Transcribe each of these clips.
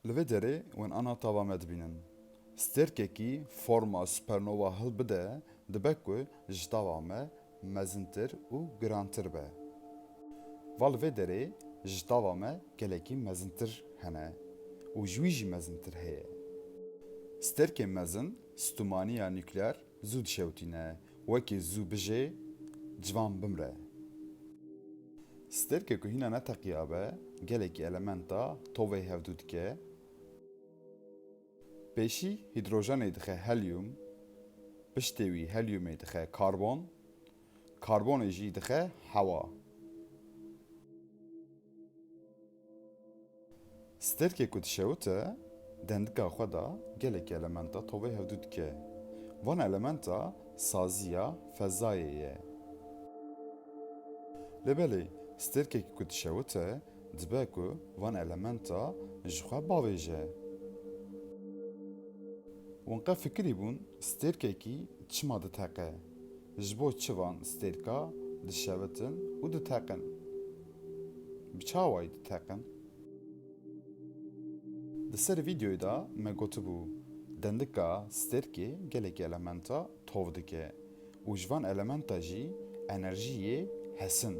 Li vê derê wen ana tava me dibînin. Stêrkekî forma supernova hilbide dibe ku ji tava me mezintir û girantir be. Va li vê derê ji tava me gelekî mezintir hene û ji wî jî mezintir heye. Stêrkên mezin stûmaniya nukleer zû dişewitîne. Wekî zû bijê, ciwan bimre. Stêrkê ku hîna neteqiyabe gelekî elementa tovê hevdû dike. Pêşî hîdrojenê dixe helyûm, piştê wî helyûmê dixe karbon, karbonê jî dixe hewa. Sterkê ku dişewite dendika xwe de gelekî elementa tovê hevdû dike. Van elementa saziya fezayê ye. Lê belê sterkekî ku dişewite dibe ku van elementa ji xwe bavêje. Wan qet fikirî bûn sterkekî çima diteqe? Ji bo çi van sterka dişevitin û diteqin? Bi çawayî diteqin. Di ser vîdeoyê de me gotibû dendika stêrkê gelekî elementa tov dike û ji van elementa jî enerjî yê hesin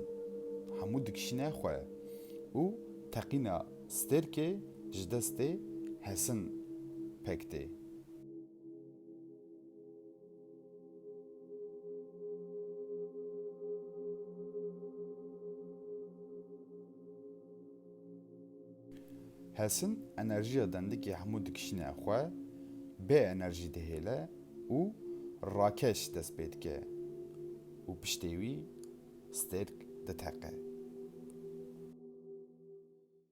hemû dikişîne xwe û teqîna stêrkê ji destê hesin pek tê. Hesin enerjiya dendikê hemû dikişîne xwe, bê enerjî dihêle û rakeş dest pê dike û piştê wî stêrk diteqe.